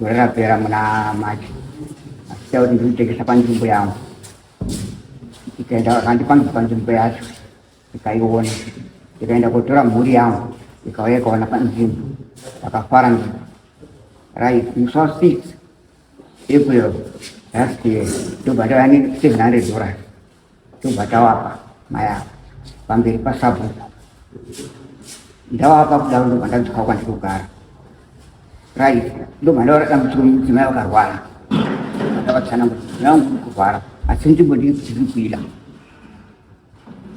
gore rapera muna machi achiita kuti ndikutengesa panzvimbo yangu ikaenda vakandipangisa panzvimbo yacho ikaiona ikaenda kotora mhuri yangu ikauya ikaona panzvimbo vakafara ndi right musa six april last year ndobva ndava ne seven hundred dollars tobva tawapa mai ava pamberi pasabhuku ndawapa kudaro ndobva ndadzoka kwandiri kugara right ndobva ndaona dambudziko mudzimai vakarwara ndavatsana kuti mudzimai wangu uri kurwara asi nzvimbo ndiri kuti ndiri kuida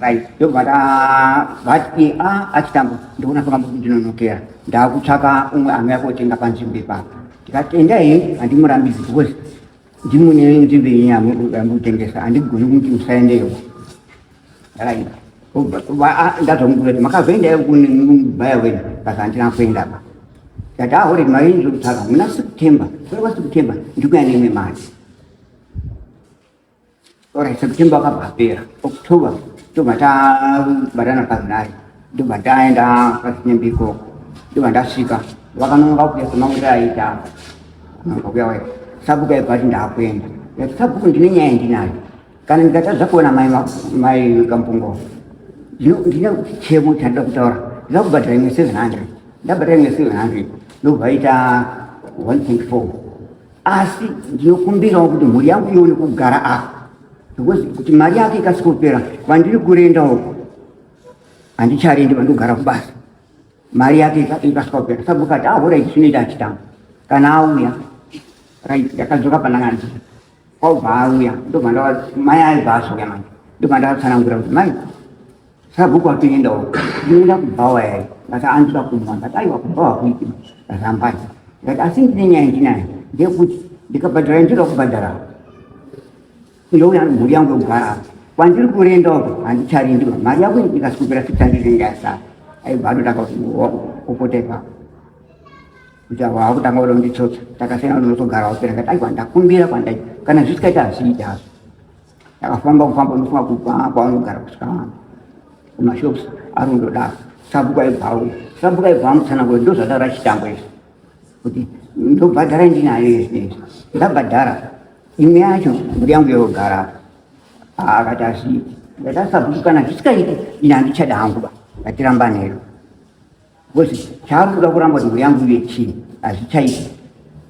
right ndobva ndavati a achitambo ndikuona pakambo kuti ndinonokera ndaakutsvaka umwe anouya kotenga panzvimbo ipapa ndikati endai handimurambidzi because Ndimune wenyu kuti venyu amudambi kutengesa andigoni kuti musaendeyo. Right. Ndazomukura kuti makazoendayo kune mubaya wenyu basa handina kuenda apa. Ndati ahore mari ndinotsvaga muna September. Kuri kwa September ndikuya nemwe mari. Alright, September akabva apera. October ndobva tabatana paZinari. Ndobva ndaenda kwaZinyembe ikoko. Ndobva ndasvika. Vakanonga kuuya semaurira aita. Nonga kuya waita. Sabhuku aibva ati ndakuenda. Like sabhuku ndine nyaya ndinayo. Kana ndikatadza kuona mai mai Kampungo. Ndine chichemo chandida kutaura. Ndida kubhadhara imwe 700. Ndabhadhara imwe 700. Ndobva aita 1.4. asi ndinokumbirawo kuti mhuri yangu ione kugara apa because kuti mari yake ikasikopera kwandiri kurenda uko handicharendi vandogara kubasa mari yake ikasikopera sabhuku ati ahora ah, ichi chinoita achitamba kana auya right ndakadzoka pandakandii kwaubva auya ndobva mai aibva azouya manje ndobva ndavatsanangura kuti mai Sabhuku atoenda uko. Ndinoda kubhawa yai. Ndati andida kumwa. Ndati aiwa kubhawa kuiti. Ndazambanya. Ndati asi ndine nyaya ndinayo. Ndeyekuti ndikabhadhara ndinoda kubhadhara. Ndouya mhuri yangu yogara apa. Kwandiri kurenda uko handicharindi. Mari yako ikasukupira sitandiri ndiyasara. Aibva anotanga kuti upota ipapo. Kuti avo vakutanga kuda kunditsotsa. Takasiyana unotogara wapera. Ndati aiwa ndakumbira kwandaita. Kana zvisikaita hazviita hazvo. Ndakafamba kufamba ndofunga kubva kwavanogara kusvika vanhu kumashops ari kundodaro sabhuku aibvawo sabhuku aibvawo mutsananguro ndozvataura chitambo izvi kuti ndobhadhara ndinayo izvi ndabhadhara imwe yacho mburi yangu yogara akati asi ndatasabhuku kana zvisikaiti ini handichada hangu ba ngatiramba nero Ngozi chaari kuda kuramba kuti mhuri yangu ive chii hazvichaiti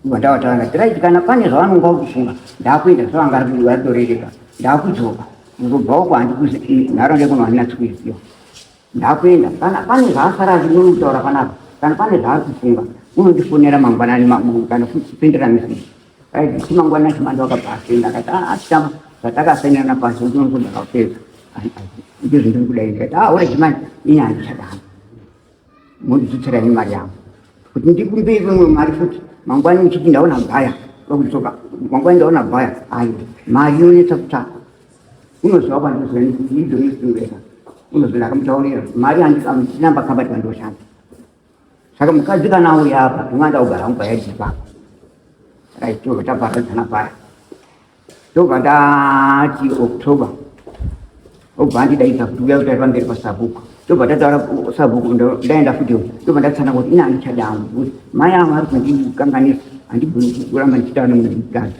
ivo ndavatanga tiraiti kana pane zvavanonga vakufunga ndakuenda zvavanga aritorereka ndakudzoka ndobva uko handikuzi nharaunda ikuno handina tsikuiziva ndakuenda kana pane zvaasara achinomutaura panapa kana pane zvaari kufunga unondifonera mangwanani kana kupindira meseji Aizviti mangwana Chimando akabva asenda akati ah, achitama zvatakasainirana pasi kuti unonzi ndakapedza ndizvo ndiri kuda ini kati ah ore Chimando ini handichadana mondibetsera ini mari yangu kuti ndikumbire imwe mari futi mangwana uchiti ndaona bhaya vakudzoka mangwana ndaona bhaya ayo mari inonetsa kutsvaka unoziva kwandozivaidonoziweka unoziva ndakamutaurira mari handichinamba kambati vandoshanda Saka mukadzi kana auya apa tinoganda kugara hangu paya chipa. Saka ichitobva taparadzana paya. Tobva tati October. Obva andidaidza kuti uya kutaira pamberi pasabhuku. Tobva tataura sabhuku ndaenda futi tobva ndatsana kuti ina andichada hangu. Mai avo vari kundikanganisa handibvuni kuramba ndichitaura nemukadzi.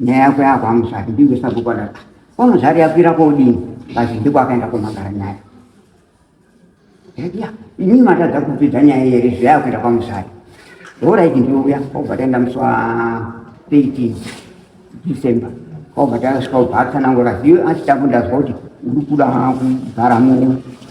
nyaya yako yako amuzvati ndinge sabhuku adati ko muzvari yakwira kodini ngazi ndiko akaenda komagara nyaya ya inini matadza kupedza nyaya here zviya yakuenda kwamuzvari horaiti ndiuya kwaubva taenda musi wa 13 december kwaubva tasvika ubva atsanangura ziyo achitambo ndazwa kuti uri kuda kugara muno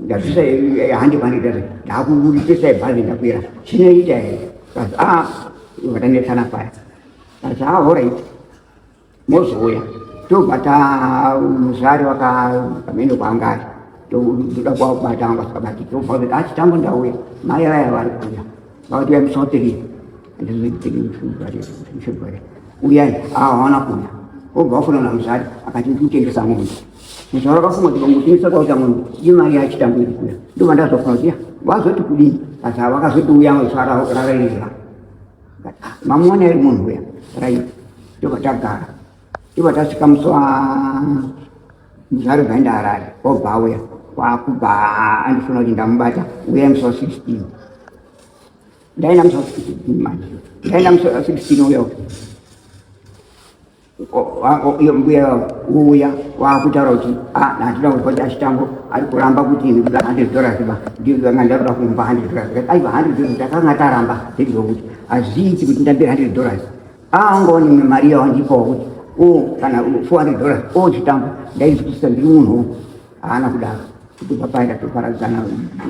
ndabvisa handi mari ndati ndakuburitisa ibhazi ndakwira chinoita here kati a ah, vatanetsana paya kati a ah, horit mozouya tobva ta muzvari vakamene kwanga ari toda kuwabata vanga sikabati tobva kuti achi ah, tango ndauya mai vaya vari kuuya vakuti uya musotiri andizvibhare uyai ahawana kuuya obva wafunana muzvari akati ndikutengesa mombe Muzvara kafunga kuti vangotinisa kwa chamwe imari yachitambira kuya. Ndo vandazofunga kuti vazoti kudini. Asi vakazoti uya muzvara rarira. Mamuona iri munhu uya. Rai. Ndo vatagara. Ndo vatasvika muswa muzvara zvaenda harare. Obva uya. Kwakubva andifuna kuti ndamubata uya muswa 16. Ndaenda muswa 16 manje. Ndaenda muswa 16 uya. iyo mbuya uya wakutaura kuti ah, handina kupa chachitambo ari kuramba kuti ini kuda hundred dollars ba ndanga ndakuda kumba hundred dollars aiva hundred dollars takanga taramba zveizvo kuti hazviiti kuti ndambire hundred dollars aangoni ah, imwe mari yawandipawo kuti o oh, kana four hundred dollars o oh, chitambo ndaizwisisa ndiri munhu haana kudaro kuti papaita toparadzana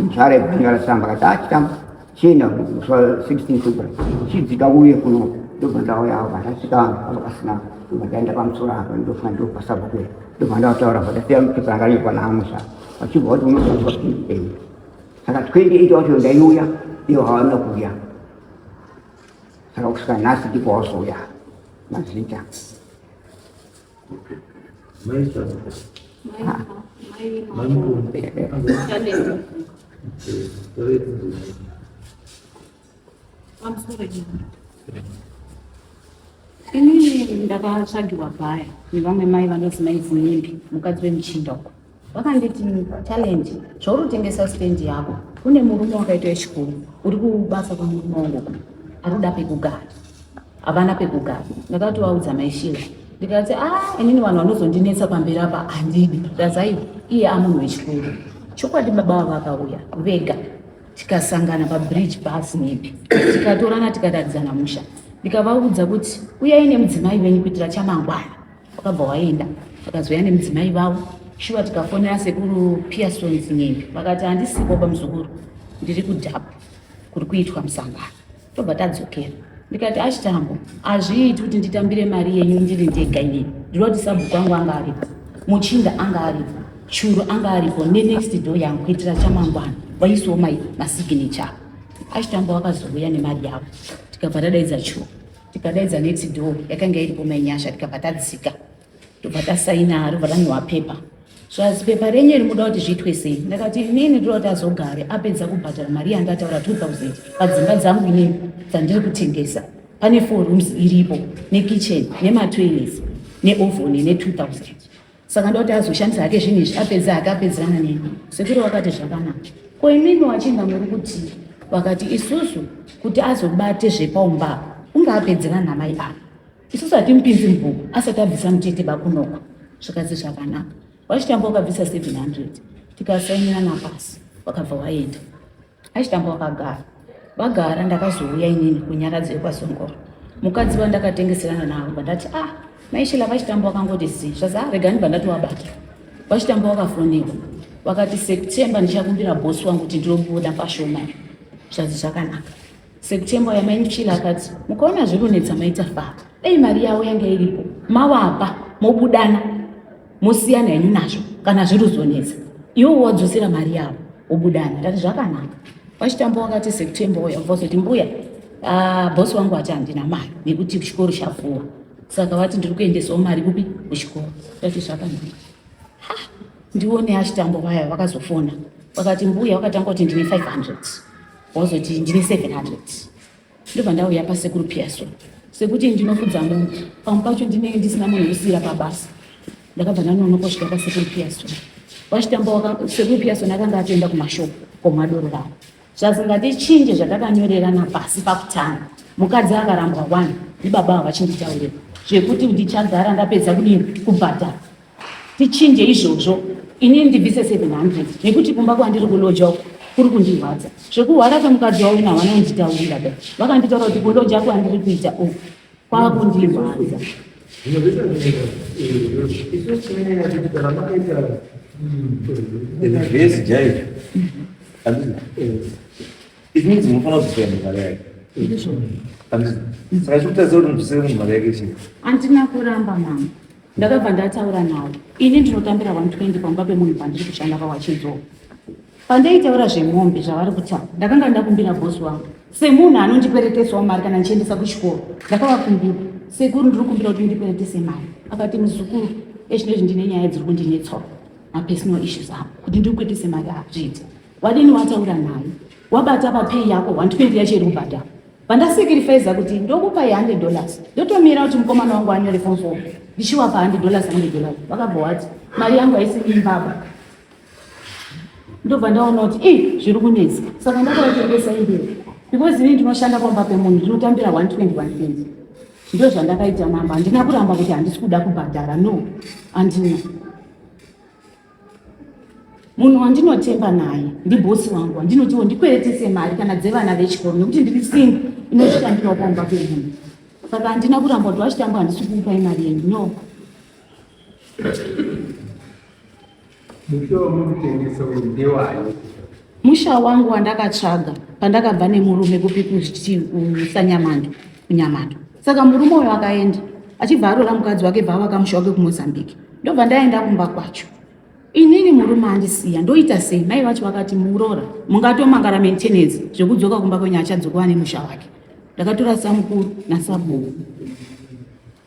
nzvara yekunyora samba kati a ah, chitambo china kufa 16 super chidzika uye kuno ndobva ndauya apa ndasvika apa pasina ndobva ndaenda pamusoro apa ndofa ndopasabva kuya ndobva ndataura kuti ndasiya mupepa ranga riri pana amusha vachibva kuti unozoa saka 28 wacho ndaiuya iyo hawana kuuya saka kusvika nhasi ndipo wazouya mazita Ini ndakatsvagiwa paya nevamwe mai vanonzi mai Vuyimbi mukadzi wemuchinda uko vakanditi challenge zvauri kutengesa stand yako kune murume wakaita wechikuru uri kubasa kwemurume wangu ari kuda pekugara havana pekugara ndakati vaudza maishira ndikati a ah, inini vanhu vanozondinetsa pamberi apa handidi ndazai iye amunhu wechikuru chokwadi baba vavo vakauya vega tikasangana pabridge bus nepi tikatorana tikatadzana musha ndikavaudza kuti uyai nemudzimai venyu kuitira chamangwana wakabva waenda vakazouya nemudzimai vavo shuwa tikafonera sekuru pearsons nyembe vakati handisipo pamuzukuru ndiri kudhapu kuri kuitwa musangano tobva tadzokera ndikati achitambo hazviiti kuti nditambire mari yenyu ndiri ndega inini ndinoda kuti sabhuku angu anga aripo muchinda anga aripo churu anga aripo nenext door yangu kuitira chamangwana vaisiwo masiginechavo achitambo vakazouya nemari yavo tikabva tadaidza churu tikadaidza next door yakanga iripo mai nyasha tikabva tadzika tobva tasaina robva ranhuwa pepa so asi pepa renyu iri muda kuti zviitwe sei ndakati inini ndoda kuti azogare apedza kubhadhara mari yanga ataura 2000 padzimba dzangu inini dzandiri kutengesa pane four rooms iripo nekitchen nematoilets neovhoni ne 2000 saka ndoda kuti azoshandisa hake zvinhu izvi apedza hake apedzerana neni sekuru vakati zvakanaka ko imimi wachinga muri kuti vakati isusu kuti azobate zvepaumbako unge apedzerana namai ava isusu hatimupinzi mubhuku asati abvisa mutete bakunoko zvikadzi zvakanaka wachitamba wakabvisa 700 tikasainirana pasi wakabva waenda Achitambo vakagara vagara ndakazouya inini kunyaradzi yekwasongoro mukadzi vandakatengeserana navo vandati ah maishila vachitambo vakangoti zi zvaza ah, rega ndibva ndatovabata vachitambo vakafoniwa vakati september ndichakumbira bosi wangu kuti ndinobuda pashoma zvazi zvakanaka september yamaichila akati mukaona zvekunetsa maita faa dai mari yavo yanga iripo mavapa mobudana mosiyana henyu nazvo kana zviri kuzonetsa iwo wadzosera mari yavo wobudana ndati zvakanaka vachitamba wakati september uya vozoti mbuya ah, bosi wangu ati handina mari nekuti chikoro chafuwa saka vati ndiri kuendesawo mari kupi kuchikoro ndati zvakanaka ndione achitambo vaya vakazofona vakati mbuya vakatanga kuti ndine 500 wozoti ndine 700 ndobva ndauya pasekuru piaso sekuti ndinofudza munhu pamwe pacho ndinenge ndisina munhu wekusiira pabasa ndakabva ndanonoka kusvika pasekuru piaso vachitamba sekuru piaso ndakanga atoenda kumashoko komadoro vavo zvazingatichinje zvatakanyorerana pasi pakutanga mukadzi akarambwa wani ndibaba ava vachinditaurira zvekuti ndichagara ndapedza kudini kubhadhara tichinje izvozvo ini ndibvise 700 nekuti kumba kwandiri kuloja uku kuri kundirwadza zvekuhwara kwemukadzi wavo ina havana kunditaurira da vakanditaura kuti kuloja kwandiri kuita uku kwava kundirwadza zvese jaizvo izvi midzi munofanira kuzoenda mari yake saka zvekutaziva kuti mudusire munhu mari yake chii andina kuramba mama ndakabva ndataura nawo ini ndinotambira 120 pamba pemunhu pandiri kushanda pawachidzoka pandaitaura zvemombe zvavari kutaura ndakanga ndakumbira bosi wangu semunhu anondikweretesawo mari kana ndichiendesa kuchikoro ndakavakumbira sekuru ndiri kumbira kuti ndikweretese mari akati muzukuru ezvinezvi ndine nyaya dziri kundinetsawo mapersonal issues ako kuti ndiri kweretese mari azviite wadini wataura naye wabata papeyi yako 120 yacho iri kubhadhara Pandasacrificer kuti ndokupa ye 100 dollars ndotomira kuti mukomana wangu anyore form 4 ndichiwapa 100 dollars 100 dollars vakabva wati mari yangu haisi imbaba ndobva ndaona kuti i zviri kunetsa saka ndakaitengesa imberi because ini ndinoshanda pamba pemunhu ndinotambira 121 ndo zvandakaita mama handina kuramba kuti handisi kuda kubhadhara no andina munhu wandinotemba naye ndibhosi wangu wandinotiwo ndikweretese mari kana dzevana vechikoro nekuti ndiri singo inozvitambirawo pamba pemunhu saka handina kuramba kuti wachitamba handisi kuupai mari yenyu no mushowo mukutengesa uyu ndewani Musha wangu wandakatsvaga pandakabva nemurume kupi kusanyamandu kunyamata saka murume uyo akaenda achibva arora mukadzi wake bva avaka musha wake kumozambique ndobva ndaenda kumba kwacho inini murume andisiya ndoita sei mai vacho vakati murora mungatomangara maintenance zvekudzoka kumba kwenyu achadzoka ane musha wake ndakatora samukuru nasabuu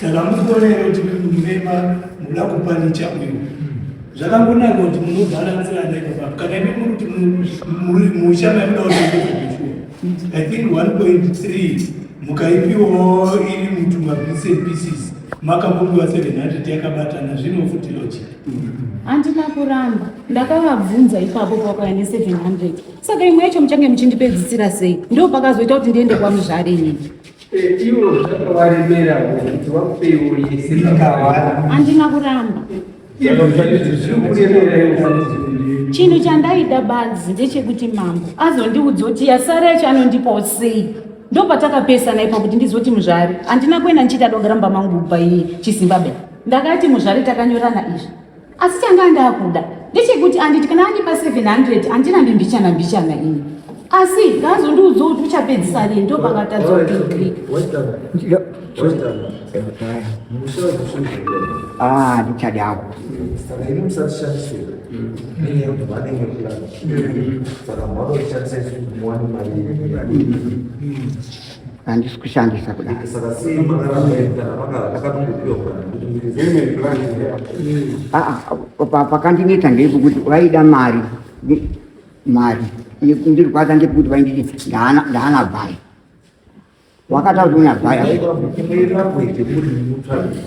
Saka mukuona here kuti mumema muda kupanicha uyu zvakangonaka kuti munobalanzira ndaiaa kana imi muri kuti musha maimuda kutoeeua i think one point three mukaipiwo iri mutu mabits and pieces makambombiwa seven hundred yakabatana zvino futi logic handina kuramba ndakavabvunza ipapo pakauya neseven hundred saka imwe yacho muchange muchindipedzisira sei ndo pakazoita kuti ndiende kwamuzvare ini Ivo zvakavaremera kuti wapeiwo yese vakawara. Handina kuramba. Chinhu chandaida badzi ndechekuti mambo azondiudza kuti yasara yacho anondipawo sei ndopatakapesana ipa kuti ndizoti muzvari handina kuenda ndichiita dogara mumba mangu kubva iye chizimbabwe ndakati muzvari takanyorana izvi asi changa ndakuda ndechekuti anditi kana andipa 700 handina ndimbichana mbichana ini asi ngaazondiudza kuti uchapedzisa rini ndopangatadza ah, ndichadako handisi kushandisa kudai pakandineta ndepekuti vaida mari mari ndirikwaza ndepekuti vainditi ndaana bhai wakataura kuti una bhai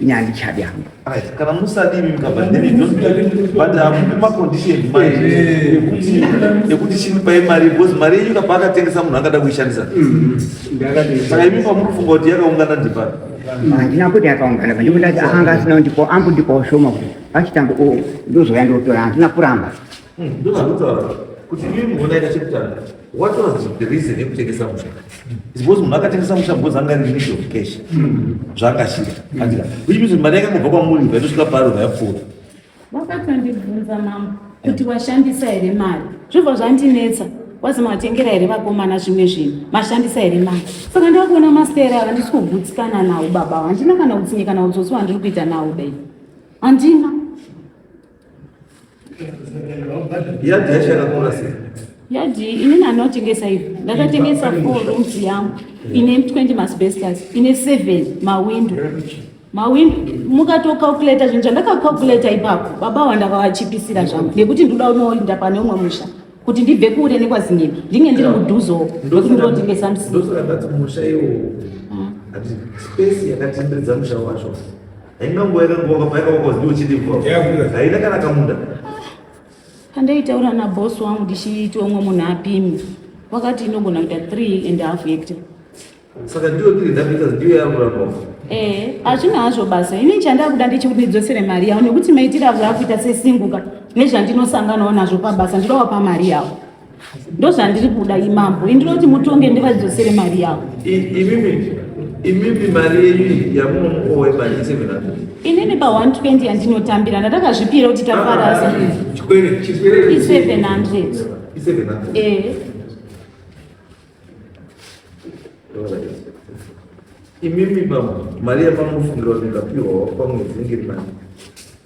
ini handichadi hangu kana musadii mukabvaemacondition ekuti chinipai mari because mari yenyu kabva akatengesa munhu angada kuishandisa mm-hmm. saka imi pamuri kufunga kuti yakaungana ndipari mm-hmm. handina kuti yakaungana pandikundati akanga asina kundipo ambu ndiposhoma kuti vachitanga ndozouya ndotora handina kuramba Hmm, ndozvakutaura kuti imi munonaita chekutanga what was the reason yekutengesa musha because munhu akatengesa musha because anga ri need of cash zvaakashira andika which means mari yakangobva kwamuri bva itosvika paro bva yapfuura wakatondibvunza mambo kuti washandisa here mari zvobva zvandinetsa wazi matengera here vakomana zvimwe zvinhu mashandisa here mari saka ndakuona mastere ava ndisi kugutsikana nawo baba handina kana utsinye kana utsotsi wandiri kuita nawo dai handina Yadhi yacho yakakura sei? Yadhi inini anotengesa hivi ndakatengesa four rooms yangu ine 20 masbestas ine seven mawindo mawindo mukatocalculata zvinhu zvandakacalculata ipapo baba wandakavachipisira zvangu nekuti ndoda unoinda pane umwe musha kuti ndibve kure nekwazinini ndinge ndiri mudhuzo nekuti ndotengesa msika ndosaka ndati musha iwo hati space yakatenderedza musha wacho haina nguva yakanguva kapaika wakazi ndiwo chiti haina kana kamunda andaitaura nabos wangu ndichiiti omwe munhu apimi wakati inogona kuita three and half hector saka ndiyo tiri ndapita ndiyo yakuramba eh hazvina hazvo basa ini chandakuda ndechekuti ndidzosere mari yavo nekuti maitiro avo akuita sesinguka nezvandinosanganawo nazvo pabasa ndinowa pamari yavo ndozvandiri kuda imambo indinoti mutonge ndivadzosere mari yavo imimi mari yenyu yamunomukowa imari yesevenhundred inini pa 120 yandinotambira ndatakazvipira kuti tafarasa ah, i 700 eh. imimi mama mari yamamunofungira kuti ndikapiwa pamwedzi ngiri mani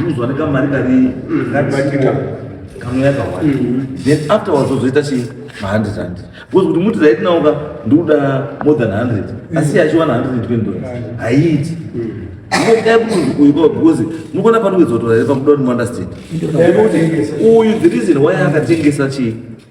Unozwa nekamari kari kabatika kamwe yakawanda mm-hmm. then afterwards ozoita chi mahundred rand because kuti muti right now ka ndikuda more than hundred mm-hmm. asi yachiwana hundred and twenty dollars mm-hmm. haiiti because mukuona panokuzotora here pakuda kuti muunderstand uyu the reason why akatengesa chii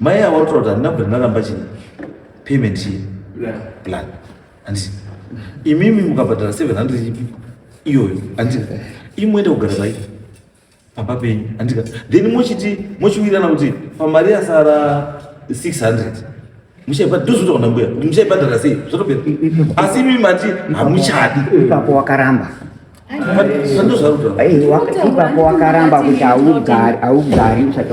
Mai avo toti handina kubva ndaramba chii payment chii plan handiti imimi mukabhadhara 700 ipi iyoyo handika imwende kugara pai pamba penyu handika then mochiti mochiwirirana kuti pamari yasara 600 muchaipa ndozoita kuna mbuya kuti muchaibhadhara sei zvatobe asi imimi mati hamuchadi ipapo wakaramba aiwa ipapo wakaramba kuti haugari haugari usati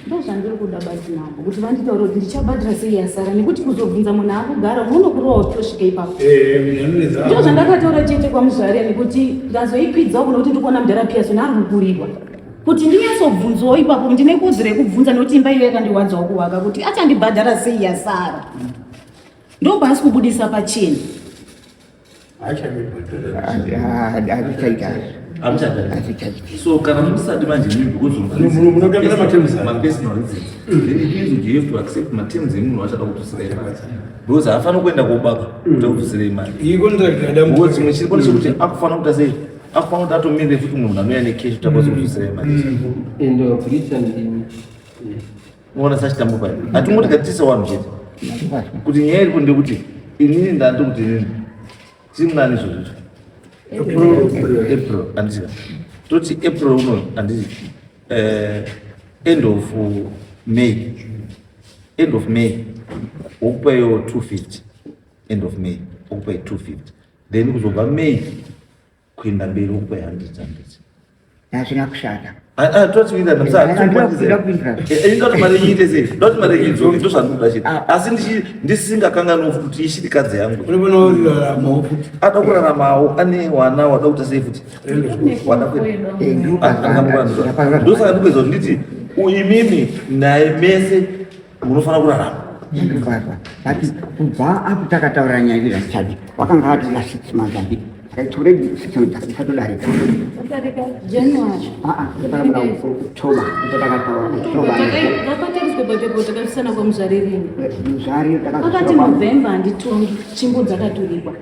ndozvandiri kuda basi navo kuti vanditaure kuti ndichabhadhira sei yasara nekuti kuzobvunza munhu akugara unonokurowa kuti tosvika ipapo ndo zvandakataura chete kwamuzvare nekuti ndazoikwidzawo kuno kuti ndikuona mudhara piyasoni ari kukurirwa kuti ndinyatsobvunzwawo ipapo ndine kodzo rekubvunza nokuti imba iyo yakandirwadzawo kuvaka kuti achandibhadhara sei yasara ndobaasi kubudisa pachena so kana musati manje mibvunzomapesonal reasons then it means you have to accept materms emunhu wachada kutusira imari because haafaniri kuenda kobaka kuti akutusira imari iko ndakadambudzimwe chiri kone chekuti akufanira kuita sei Afu pamwe tatomire futi munhu anouya nekeshi tapazozvisei manje. Mm. And uh, police and the unoona sachitambo pai hatingoti katisa wanhu chete kuti nyaya iripo ndekuti inini ndati kuti inini simnani izvozvo april andisika toti april uno andisi eh, end of may end of may wokupaio two fifty end of may wokupai two fifty then kuzobva mei kuenda mberi uko handiti handiti hazvina kushata asi ndisingakanganwa kuti ishirikadzi yangu ada kuraramawo ane wana wada kuita sei futi ndosaka ndikuedza kuti nditi imimi naye mese unofanira kurarama ndinofarwa but kubva apo takataura nyaya iri zvichadi wakanga atora six months adi akaitore six months akasatodarika aaaamuda kutoba icho takataura kutobamuzarirakaakati november handitongi chimbo dzakaturikwa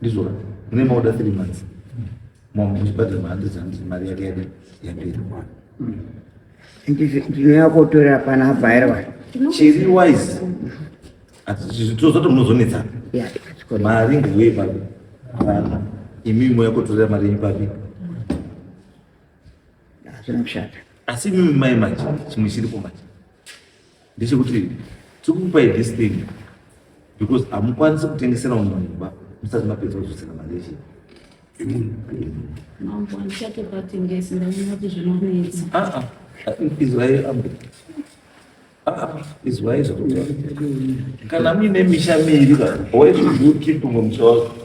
ndizvona mune maoda three months mom uchibhadhara mahandreds handreds mari yake yade yapera ndinoyakotorera pana abhairwa chiri wise tozoti munozonetsana mari ngeuye papi vana imi moyakotorera mari yenyu papi asi imimi mai manje chimwe chiripo manje ndechekuti tikukupai this thing because hamukwanisi kutengesera munhu mumba musati mapedza kuzosera mari yechi izwai ambe izwai zvakut kana muine misha miiri why should you keep mumsha wako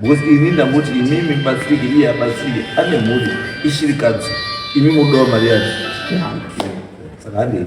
because ini ndangoti imimi batsirike iye abatsirike ane mhuri ishirikadzi imi modawo mari yacho saka handei